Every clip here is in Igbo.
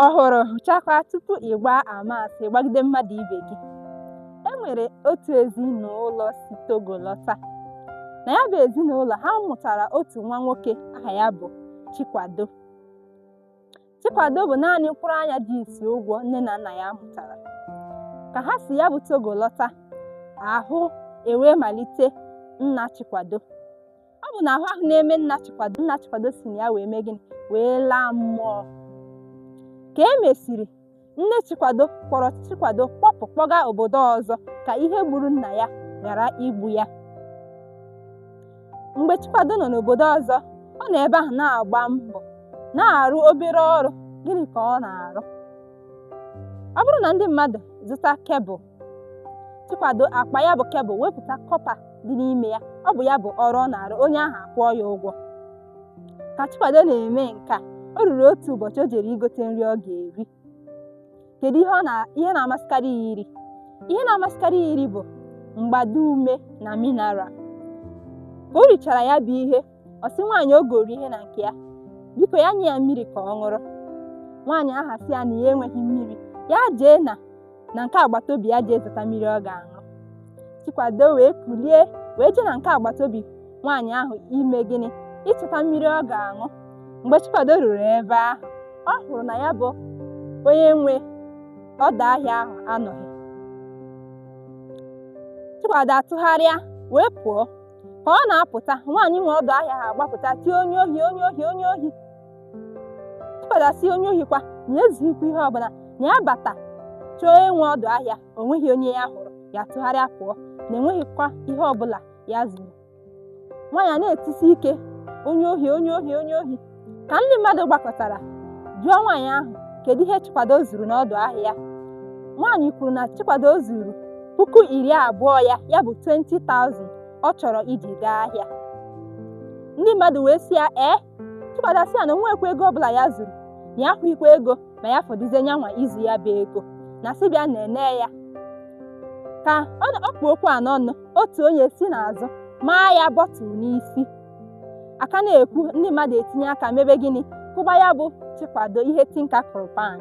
ọhụrụ hụchakwa tupu ị gbaa ama asị gbagide mmadụ ibe gị e nwere otu ezinụlọ si Togo lọta na ya bụ ezinụlọ ha mụtara otu nwa nwoke aha ya bụ Chikwado Chikwado bụ naanị mkpụrụ anya ji isi ụgwọ nne na nna ya mụtara ka ha si ya bụ Togo lọta ahụ ewee malite nna Chikwado ọ bụ na ahụ ahụ na-eme nna chikwado si na ya wee mee gịnị wee laa mmụọ ka e mesịrị nne chikwado kpọrọ chikwado kpọpụ kpọga obodo ọzọ ka ihe gburu nna ya ghara igbu ya mgbe chikwado nọ n'obodo ọzọ ọ nọ ebe ahụ na-agba mbọ na-arụ obere ọrụ gịnị ka ọ na-arụ ọ bụrụ na ndị mmadụ zụta kebụl Chikwado akpa ya bụ kebụl wepụta kọpa dị n'ime ya ọ bụ ya bụ ọrụ ọ na-arụ onye ahụ akwụọ ya ụgwọ ka Chikwado na-eme nke a o ruru otu ụbọchị o jere igote nri ọ ga-eri kedu ihe na-amasịkarị ya iri ihe na-amasịkarị ya iri bụ mgbado ume na mineral ka o richara ya bụ ihe ọ sị nwaanyị o goro ihe na nke ya biko ya nye ya mmiri ka ọ ṅụrụ nwaanyị ahụ asị ya na ya enweghị mmiri ya jee na na nke agbata obi ya jee zụta mmiri ọ ga-aṅụ chikwado wee kulie wee jee na nke agbata obi nwaanyị ahụ ime gịnị ịchọta mmiri ọ ga-aṅụ mgbe chikwado ruru ebe ahụ ọ hụrụ na ya bụ onye nwe ọdọ ahịa ahụ anọghị chikwado atụgharịa wee pụọ ka ọ na-apụta nwaanyị nwe ọdọ ahịa ahụ agbapụta tie onye ohi onye ohi onye ohi Chikwado asị onye ohi kwa na ya ezughikwa ihe ọbụla na ya bata chọọ onye nwe ọdọ ahịa o nweghị onye ya hụrụ ya tụgharịa pụọ na e nweghịkwa ihe ọbụla ya zuru nwaanyị a na-etisi ike onye ohi onye ohi onye ohi ka ndị mmadụ gbakọtara jụọ nwaanyị ahụ kedu ihe Chikwado zuru n'ọdụ ahịa ya nwaanyị kwuru na Chikwado zuru puku iri abụọ ya ya bụ 20,000 ọ chọrọ iji gaa ahịa ndị mmadụ wee sị ya ee Chikwado sị ya na o nwekwa ego ọbụla ya zuru na ya ahụghịkwa ego ma ya fọdụzie nyanwa izu ya bụ ego na sị bịa na-ene ya ka ọ kpụ okwu a n'ọnụ otu onye si n'azụ maa ya bọtụl n'isi a ka na-ekwu ndị mmadụ etinye aka mebe gịnị kụba ya bụ Chikwado ihe tinka kụrụ pan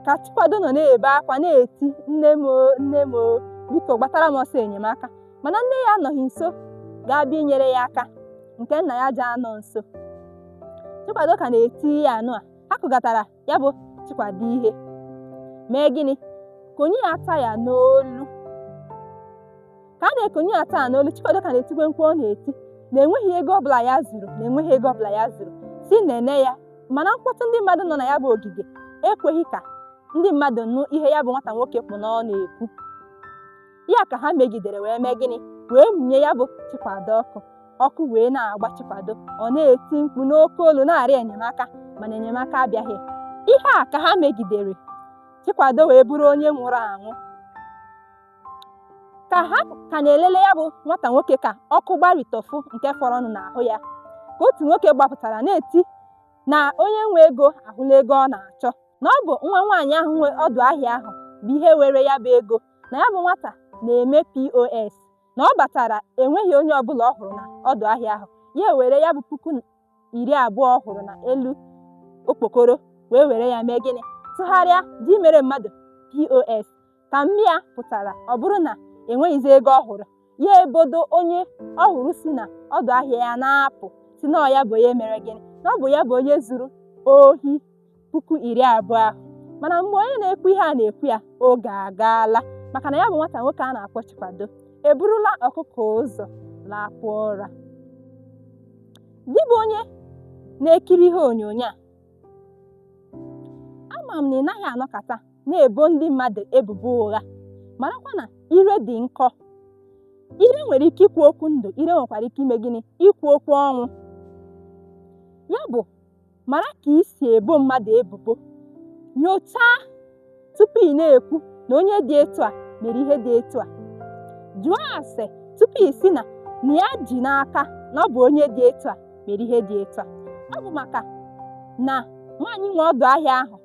ka Chikwado nọ na-ebe akwa na-eti nne m oo, nne m oo, biko gbatara m ọsọ enyemaka mana nne ya anọghị nso ga-abịa inyere ya aka nke nna ya ji anọ nso Chikwado ka na-eti ya anwụọ a kụgatara ya bụ Chikwado ihe mee gịnị konye ya taya n'olu ka a na-ekonye ya taya n'olu Chikwado ka na-etikwe mkpu ọ na-eti na enweghị ego ọbụla ya zuru na enweghị ego ọbụla ya zuru sị nene ya mana mkpọtụ ndị mmadụ nọ na ya bụ ogige ekweghị ka ndị mmadụ nụ ihe ya bụ nwata nwoke kpụ n'ọnụ ekwu ya ka ha megidere wee mee gịnị wee mụnye ya bụ Chikwado ọkụ ọkụ wee na-agba Chikwado ọ na-eti mkpu n'oke olu na-arịọ enyemaka mana enyemaka abịaghị ihe a ka ha megidere Chikwado wee bụrụ onye nwụrụ anwụ ka ha ka na-elele ya bụ nwata nwoke ka ọkụ gbarịtọfụ nke fọrọnụ n'ahụ ya ka otu nwoke gbapụtara na-eti na onye nwe ego ahụla ego ọ na-achọ na ọ bụ nwa nwaanyị ahụ nwe ọdụ ahịa ahụ bụ ihe were ya bụ ego na ya bụ nwata na-eme POS na ọ batara enweghị onye ọbụla ọ hụrụ na ọdụ ahịa ahụ ya ewere ya bụ puku iri abụọ ọ hụrụ na elu okpokoro wee were ya mee gịnị tụgharịa ji mere mmadụ POS ka nne ya pụtara ọ bụrụ na enweghịzi ego ọ hụrụ ya ebodo onye ọ hụrụ si na ọdụ ahịa ya na-apụ sị na ọ ya bụ onye mere gịnị na ọ bụ ya bụ onye zuru ohi puku iri abụọ ahụ mana mgbe onye na-ekwu ihe a na-ekwu ya oge agaala maka na ya bụ nwata nwoke a na-akpọ Chikwado eburula ọkụkọ ụzọ lakpuo ụra gị bụ onye na-ekiri ihe onyonyo a ama m na ị naghị anọkata na-ebo ndị mmadụ ebubo ụgha marakwa na ire dị nkọ ire nwere ike ikwu okwu ndụ ire nwekwara ike ime gịnị ikwu okwu ọnwụ ya bụ mara ka i si ebo mmadụ ebubo nyochaa tupu ị na-ekwu na onye dị etu a mere ihe dị etu a jụọ ase tupu ị sị na na ya ji n'aka na ọ bụ onye dị etu a mere ihe dị etu a ọ bụ maka na nwaanyị nwe ọdụ ahịa ahụ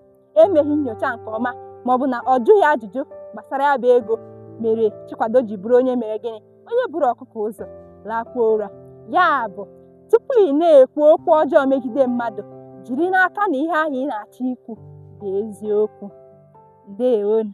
emeghị nyocha nke ọma ma ọ bụ na ọ jụghị ajụjụ gbasara ya bụ ego mere Chikwado ji bụrụ onye mere gịnị onye buru ọkụkọ ụzọ lakpuo ụra ya bụ tupu ị na-ekwu okwu ọjọọ megide mmadụ jiri n'aka na ihe ahụ ị na-achọ ikwu bụ eziokwu ndewonụ